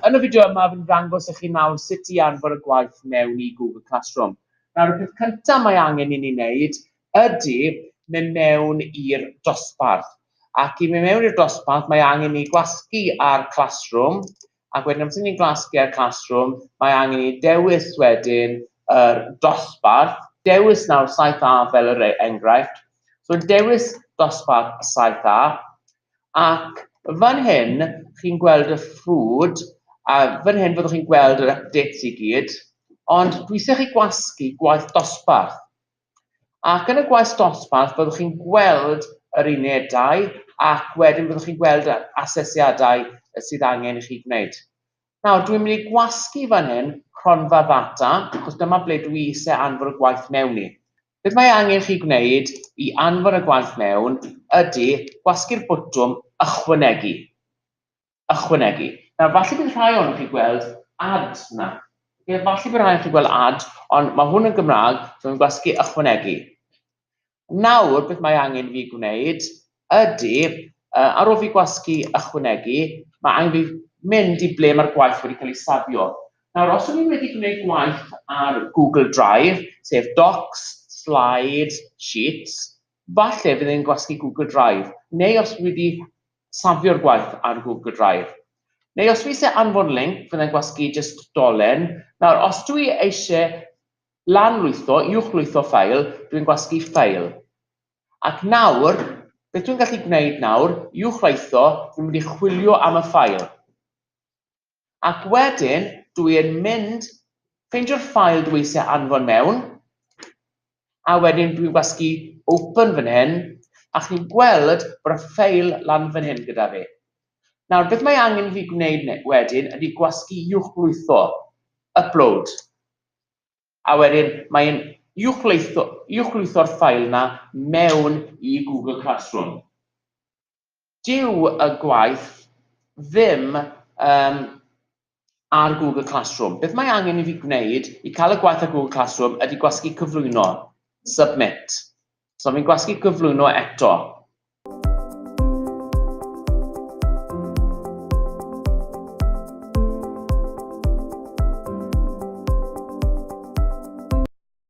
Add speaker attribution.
Speaker 1: Yn y fideo yma, fi'n ddangos i chi nawr sut i anfon y gwaith mewn i Google Classroom. Nawr, y peth cyntaf mae angen i ni wneud ydy mynd mewn i'r dosbarth. Ac i mynd mewn i'r dosbarth, mae angen ni gwasgu ar Classroom, Ac wedyn amser ni'n gwasgu'r classroom, mae angen i ni dewis wedyn yr dosbarth, dewis nawr saith A fel yr e- enghraifft, so dewis dosbarth saith A, ac fan hyn chi'n gweld y ffrwd, a fan hyn fyddwch chi'n gweld yr updates i gyd, ond dwi isie chi gwasgu gwaith dosbarth. Ac yn y gwaith dosbarth byddwch chi'n gweld yr unedau ac wedyn byddwch chi'n gweld yr asesiadau sydd angen i chi gwneud. Nawr, dwi'n mynd i gwasgu fan hyn cronfa ddata, achos dyma ble dwi eisiau anfon y gwaith mewn i. Beth mae angen chi gwneud i anfon y gwaith mewn ydy gwasgu'r botwm ychwanegu. ychwanegu. Nawr, falle bydd rhai ohonoch chi gweld ad yna. Okay, falle bydd rhai ohonoch chi gweld ad, ond mae hwn yn Gymraeg, so mae'n gwasgu ychwanegu. Nawr, beth mae angen fi gwneud ydy, uh, ar ôl fi gwasgu ychwanegu, mae angen fi mynd i ble mae'r gwaith wedi cael ei safio. Nawr, os o'n i wedi gwneud gwaith ar Google Drive, sef Docs, Slides, Sheets, Falle fydd e'n gwasgu Google Drive, neu os dwi 'di safio'r gwaith ar Google Drive. Neu os dwi isie anfon linc, fyddai'n gwasgu jyst dolen. Nawr, os dwi eisie lan-lwytho, uwch-lwytho ffeil, dwi'n gwasgu File. Ac nawr, beth dwi'n gallu gwneud nawr, uwch-lwytho, dwi'n mynd i chwilio am y ffeil. Ac wedyn dwi yn mynd ffeindio'r ffail dwi eisiau anfon mewn, a wedyn dwi'n gwasgu open fan hyn, a chi'n gweld bod y ffeil lan fan hyn gyda fi. Nawr, beth mae angen i fi gwneud wedyn ydy gwasgu uwchlwytho, upload, a wedyn mae'n uwchlwytho'r ffail yna mewn i Google Classroom. Dyw y gwaith ddim yym ar Google Classroom. Beth mae angen i fi gwneud i cael y gwaith ar Google Classroom ydy gwasgu cyflwyno, submit. So fi'n gwasgu cyflwyno eto.